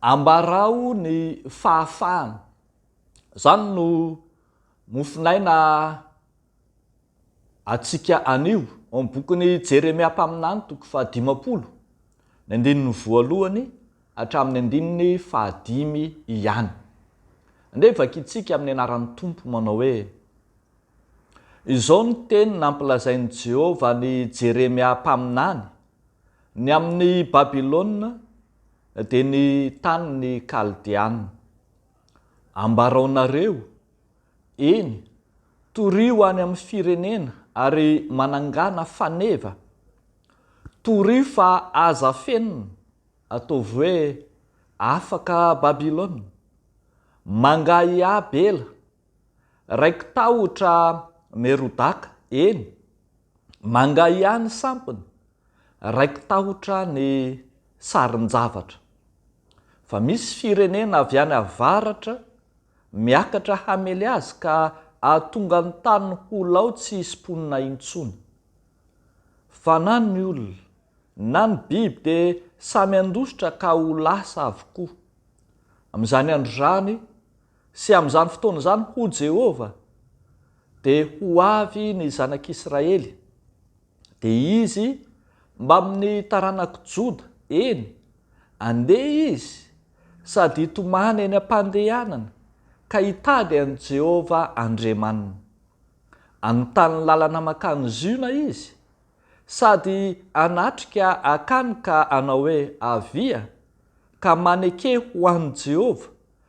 Ambarao ny fahafahana. Izany no mofonaina antsika anio ao amin'ny bokin'i Jeremia mpaminany, toko fahadimampolo, ny andininy voalohany hatramin'ny andininy fahadimy ihany. Andeha vakintsika amin'ny anaran'ny Tompo manao hoe, Izao no teny nampilazain'i Jehovah an'i Jeremia mpaminany, Ny amin'i Babylona, dia ny tany ny Kaldeana. Ambaraonareo, eny, torio any amin'ny firenena ary manangana faneva, torio fa aza afenina, ataovy hoe afaka Babylona. Mangahiaby ela, Raiki-tahotra Merodaka, eny, manga ihany sampiny, raiki-tahotra ny sarin-javatra, fa misy firenena avy any avaratra miakatra hamely azy ka ahatonga ny tany ho lao tsy hisy mponina intsony. Fa na ny olona, na ny biby dia samy handositra ka ho lasa avokoa. Amin'izany andro izany, Sy amin'izany fotoana izany, hoy Jehovah, dia ho avy ny zanak'Israely, dia izy mbamin'ny taranak'i Joda, eny, handeha izy sady hitomany eny am-pandehanana ka hitady an'i Jehovah Andriamaniny. Hanontany ny lalana mankany Ziona izy, sady hanatrika akany ka hanao hoe, Avia, ka maneke ho an'i Jehovah,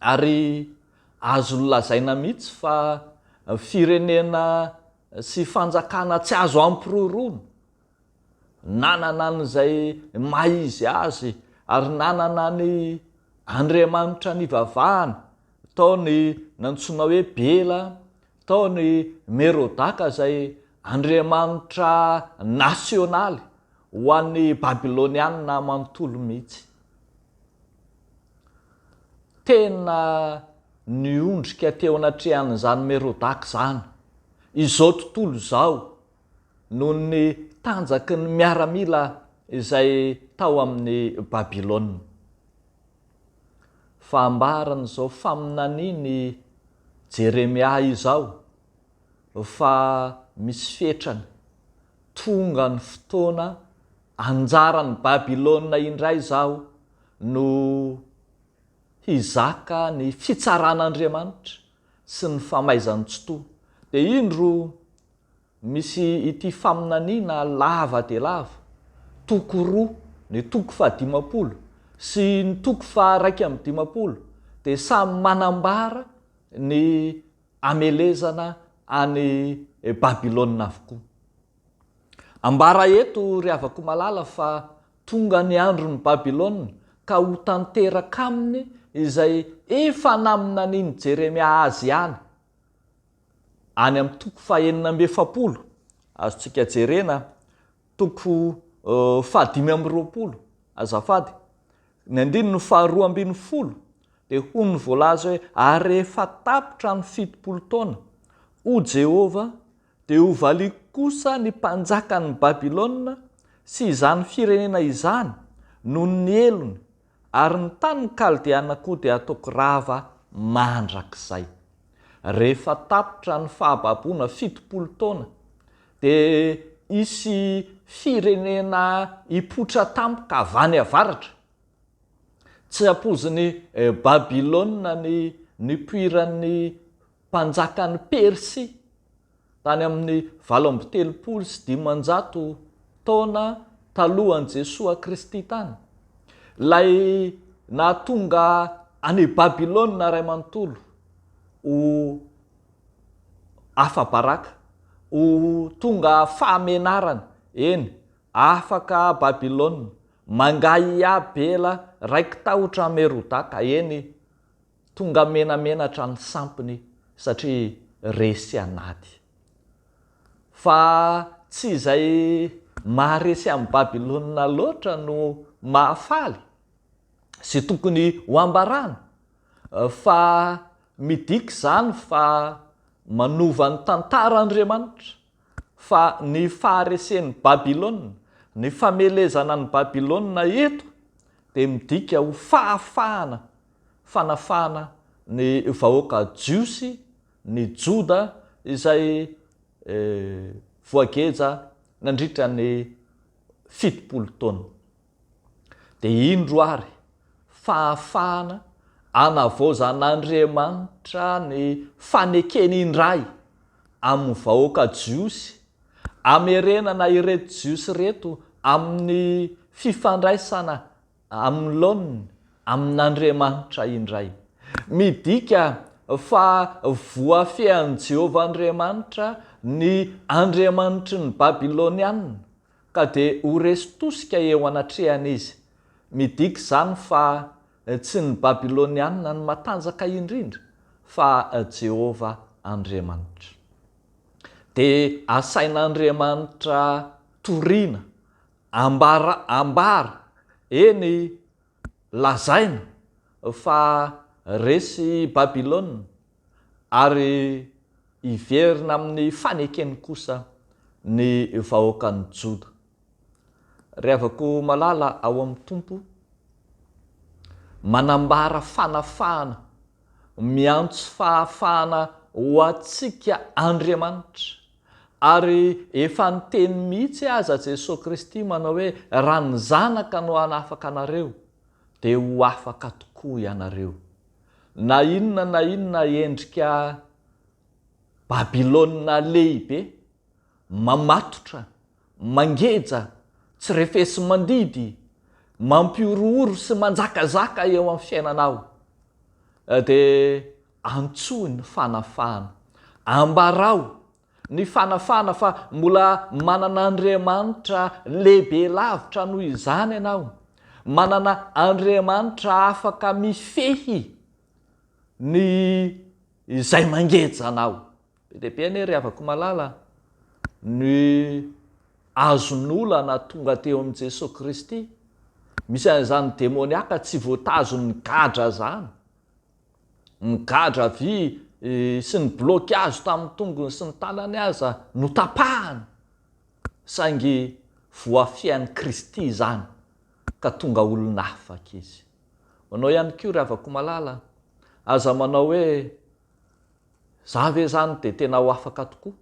ary azo lazaina mihitsy fa firenena sy fanjakana tsy azo ampiroroana, nanana an'izay maha izy azy ary nanana ny Andriamanitra nivavahany, tao ny nantsoina hoe Bela, tao ny Merodaka izay andriamanitra nasionaly ho an'ny Babylonianina manontolo mihitsy. Tena niondrika teo anatrehan'izany Merodaka izany izao tontolo izao noho ny tanjaky ny miaramila izay tao amin'i Babylona. Fa ambaran'izao faminanian'i Jeremia izao fa misy fetrany, tonga ny fotoana anjaran'i Babylona indray izaho no hizaka ny fitsaran'Andriamanitra sy ny famaizan-tsitoha. Dia indro misy ity faminaniana lava dia lava, toko roa, ny toko fahadimampolo sy ny toko faharaika amby dimampolo dia samy manambara ny hamelezana any Babylona avokoa. Ambara eto ry havako malala fa tonga ny andron'i Babylona ka ho tanteraka aminy izay efa naminanin'i Jeremia azy ihany. Any amin'ny toko fahenina amby efapolo, azontsika jerena Toko fahadimy amby roapolo, azafady, ny andininy faharoa ambin'ny folo dia hoy ny voalaza hoe, Ary rehefa tapitra ny fitopolo taona, hoy Jehovah, dia hovaliako kosa ny mpanjakan'i Babylona sy izany firenena izany noho ny helony, Ary ny tanin'ny Kaldeana koa dia hataoko rava mandrakizay. Rehefa tapitra ny fahababoana fitopolo taona, dia hisy firenena hipoitra tampoka avy any avaratra. Tsy hampoizin'i Babylona ny nipoiran'ny mpanjakan'i Persia Tany amin'ny valo amby telopolo sy dimanjato taona talohan'i Jesoa Kristy tany, ilay nahatonga an'i Babylona Ray manontolo ho afa-baraka, ho tonga fahamenarana, eny, afaka Babylona, mangahiahiahy Bela, raiki-tahotra Merodaka, eny, Tonga menamenatra ny sampiny satria resy anaty. Fa tsy izay maharesy an'i Babylona loatra no mahafaly sy tokony ho ambarana fa midika izany fa manova ny tantara Andriamanitra fa ny faharesen'i Babylona, ny famelezana an'i Babylona eto dia midika ho fahafahana fanafahana ny vahoaka Jiosy, ny Joda, izay voageja nandritra ny fitopolo taona. Dia indro ary, fahafahana anavaozan'Andriamanitra ny fanekeny indray amin'ny vahoaka Jiosy, amerenana ireto Jiosy ireto amin'ny fifandraisana Amlone amin'Andriamanitra indray. Midika fa voafehin'i Jehovah Andriamanitra ny andriamanitry ny Babylonianina, ka dia ho resy tosika eo anatrehany izy. Midika izany fa tsy ny Babylonianina no matanjaka indrindra, fa Jehovah Andriamanitra. Dia asain'Andriamanitra toriana Ambara ambara, eny lazaina, fa resy Babylona, ary hiverina amin'ny fanekeny kosa ny vahoakan'i Joda. Ry havako malala ao amin'ny Tompo, manambara fanafahana, miantso fahafahana ho antsika Andriamanitra. Ary efa niteny mihitsy aza Jesoa Kristy manao hoe raha ny Zanaka no hanafaka anareo dia ho afaka tokoa ianareo. Na inona na inona endrika Babylona lehibe mamatotra Mangeja, tsy refesi-mandidy, mampihorohoro sy manjakazaka eo amin'ny fiainanao. Dia antsoy ny fanafahana. Ambarao ny fanafahana fa mbola manana Andriamanitra lehibe lavitra noho izany ianao, manana Andriamanitra afaka mifehy ny izay mangeja anao. Be dia be anie ry havako malala ny azon'olana tonga teo amin'i Jesoa Kristy. Misy an'izany demoniaka tsy voatazon'ny gadra izany. Ny gadra vy sy ny bloky azo tamin'ny tongony sy ny tanany aza notapahany saingy voafihan'i Kristy izany ka tonga olona afaka izy. Manao ihany koa ry havako malala, aza manao hoe, Za ve zany dia tena ho afaka tokoa?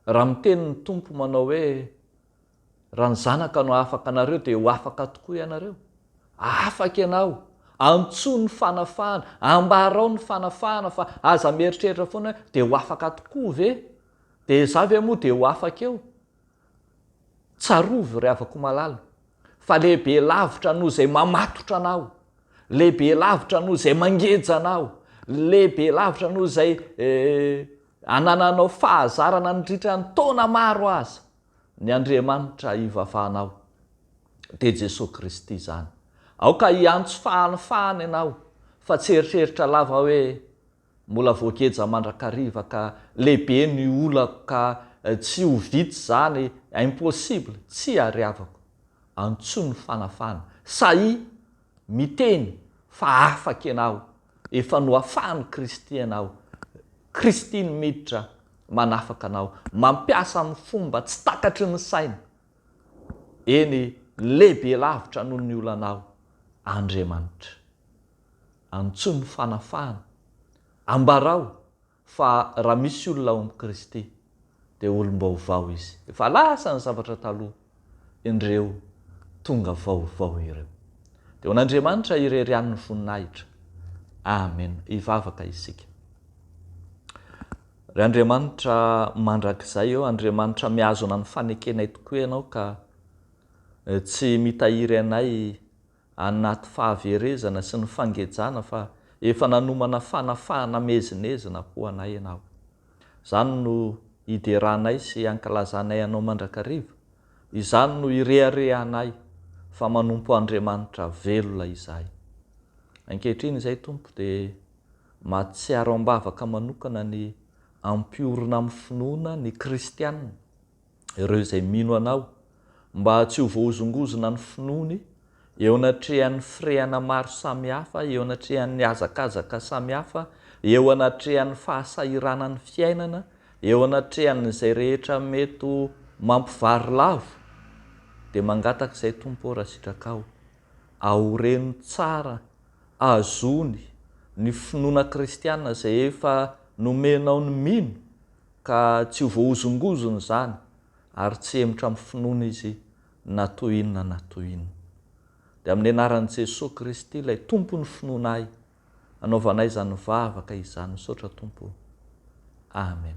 Raha miteny ny Tompo manao hoe, Raha ny Zanaka no hahafaka anareo dia ho afaka tokoa ianareo. Afaka ianao! Antsoy ny fanafahana, ambarao ny fanafahana fa aza mieritreritra foana hoe, dia ho afaka tokoa ve? Dia za ve moa dia ho afaka eo? Tsarovy, ry havako malala, fa lehibe lavitra noho izay mamatotra anao, lehibe lavitra noho izay mangeja anao, lehibe lavitra noho izay anananao fahazarana nandritra ny taona maro aza, ny Andriamanitra ivavahanao. Dia Jesoa Kristy izany. Aoka hiantso fahanifahana ianao, fa tsy hieritreritra lava hoe, Mbola voageja mandrakariva ka lehibe ny olako ka tsy ho vita izany impossible tsy ariavako antso ny fanafana sahia miteny fa afaka ianao efa noafahan'i Kristy anao Kristy no miditra manafaka anao mampiasa amin'ny fomba tsy takatry ny saina eny lehibe lavitra noho ny olanao Andriamanitra. Antsoy ny fanafahana. Ambarao fa raha misy olona ao amin'i Kristy dia olom-baovao izy. Efa lasa ny zavatra taloha, indreo tonga vaovao ireo. Dia ho an'Andriamanitra irery ihany ny voninahitra. Amena. Hivavaka isika. Ry Andriamanitra mandrakizay ô, Andriamanitra mihazona ny fanekenay tokoa Ianao ka tsy mitahiry anay anaty fahaverezana sy ny fangejana fa efa nanomana fanafahana miezinezina ho anay ianao. Izany no ideranay sy ankalazanay anao mandrakariva, izany no ireharehanay fa manompo Andriamanitra velona izahay. Ankehitriny izay Tompo dia mahatsiaro am-bavaka manokana ny hampiorina amin'ny finoana ny kristiana, ireo izay mino Anao, mba tsy ho voahozongozona ny finoany eo anatrehan'ny firehana maro samihafa, eo anatrehan'ny hazakazaka samihafa, eo anatrehan'ny fahasahiranan'ny fiainana, eo anatrehan'izay rehetra mety ho mampivarilavo, dia mangataka izay Tompo ô raha sitrakao, aoreno tsara, azony ny finoana kristiana izay efa nomenao ny mino, Ka tsy ho voahozongozona izany ary tsy hemotra amin'ny finoana izy na toy inona na toy inona. Dia amin'ny anaran'i Jesoa Kristy ilay Tompon'ny finoanay anaovanay izany vavaka izany misaotra Tompo o. Amen.